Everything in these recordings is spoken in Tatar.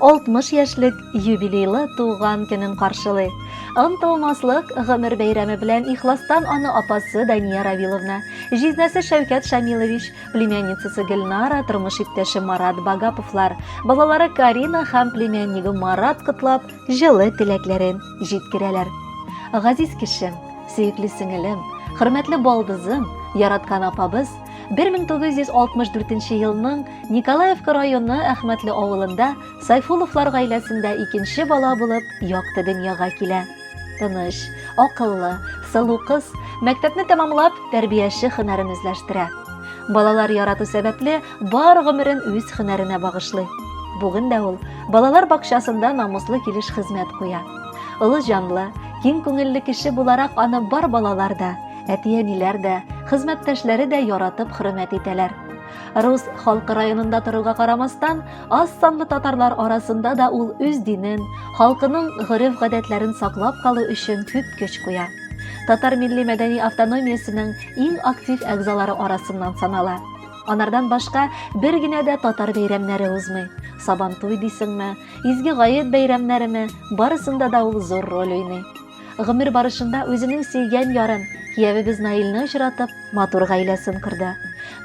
60 яшьлек юбилейлы туган көнен каршылый. Онтылмаслык гомер бәйрәме белән ихластан аны апасы Дания Равиловна, җизнәсе Шәүкәт Шамилович, племянницасы Гөлнара, тормыш иптәше Марат Багаповлар, балалары Карина һәм племяннигы Марат котлап, җылы теләкләрен җиткерәләр. Газиз кешем, сөекле сеңелем, хөрмәтле балдызым, яраткан апабыз, 1964 елның Николаевка районы Әхмәтле авылында Сайфуловлар гаиләсендә икенче бала булып якты дөньяга килә. Тыныч, акыллы, сылу кыз мәктәпне тәмамлап, тәрбияче хөнәрен үзләштерә. Балалар ярату сәбәпле бар гомерен үз хөнәренә багышлый. Бүген дә ул балалар бакчасында намуслы килеш хезмәт куя. Олы җанлы, киң күңелле кеше буларак аны бар балалар да, Әти-әниләр дә, хезмәттәшләре дә яратып хөрмәт итәләр. Рус халкы районында торуга карамастан, аз санлы татарлар арасында да ул үз динен, халкының гореф-гадәтләрен саклап калу өчен күп көч куя. Татар милли мәдәни автономиясенең иң актив әгъзалары арасыннан санала. Анардан башка бер генә дә татар бәйрәмнәре узмый. Сабантуй дисеңме, изге гает бәйрәмнәреме, барысында да ул зур роль уйный. Гомер барышында үзенең сөйгән ярын, киявебез Наилне очратып, матур гаиләсен корды.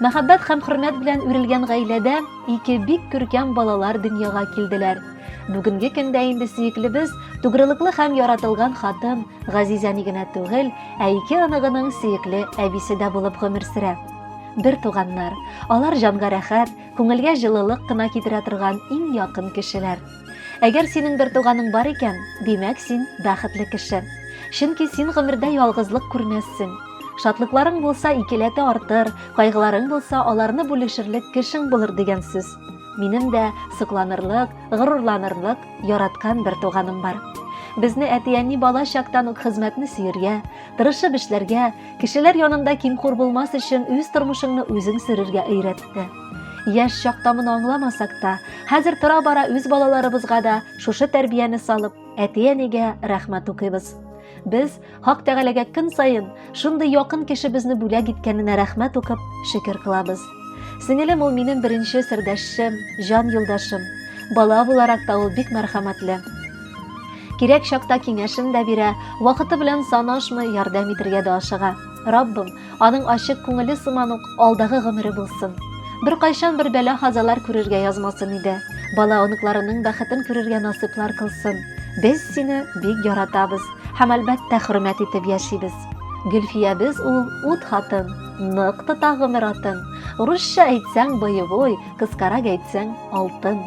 Мәхәббәт һәм хөрмәт белән үрелгән гаиләдә ике бик күркәм балалар дөньяга килделәр. Бүгенге көндә инде сөеклебез тугрылыклы һәм яратылган хатын Газизәни генә түгел, ә ике аныгының сөекле әбисе дә булып гомер сөрә. Бер туганнар, алар җанга рәхәт, күңелгә җылылык кына китерә торган иң якын кешеләр. Әгәр синең бертуганың бар икән, димәк, син бәхетле кеше. Чөнки син гомердә ялгызлык күрмәссең. Шатлыкларың булса, икеләтә артыр, кайгыларың булса, аларны бүлешерлек кешең булыр дигән сүз. Минем дә сокланырлык, горурланырлык яраткан бертуганым бар. Безне әти-әни бала чактан ук хезмәтне сөергә, тырышып эшләргә, кешеләр янында кимхур булмас өчен үз тормышыңны үзең сөрергә өйрәтте. Яшь чакта моны аңламасак та, хәзер тора-бара үз балаларыбызга да шушы тәрбияне салып, әти-әнигә рәхмәт укыйбыз. Без Хак Тәгаләгә көн саен шундый якын кешебезне бүләк иткәненә рәхмәт укып, шөкер кылабыз. Сеңелем ул минем беренче сердәшчем, җан юлдашым. Бала буларак та ул бик мәрхәмәтле. Кирәк чакта киңәшен дә бирә, вакыты белән санашмый, ярдәм итергә дә ашыга. Раббым, Аның ачык күңеле сыман ук алдагы гомере булсын. Беркайчан бер бәла-хазалар күрергә язмасын иде. Бала-оныкларының бәхетен күрергә насыйплар кылсын. Без сине бик яратабыз һәм, әлбәттә, хөрмәт итеп яшибез. Гөлфиябез ул ут хатын, нык тота гомер атын. Урысча әйтсәң, боевой, кыскарак әйтсәң, алтын.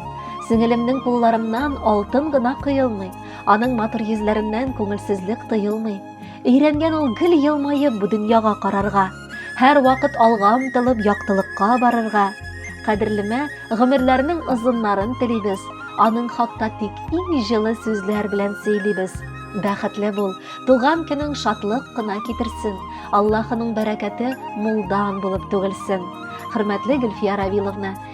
Сеңелемнең кулларыннан алтын гына коелмый, аның матур йөзләреннән күңелсезлек тоелмый. Өйрәнгән ул гел елмаеп бу дөньяга карарга, һәрвакыт алга омтылып яктылыкка барырга. Кадерлемә, гомерләрнең озыннарын телибез, аның хакта тик иң җылы сүзләр белән сөйлибез. Бәхетле бул, туган көнең шатлык кына китерсен, Аллаһының бәрәкәте мулдан булып түгелсен. Хөрмәтле Гөлфия Равиловна,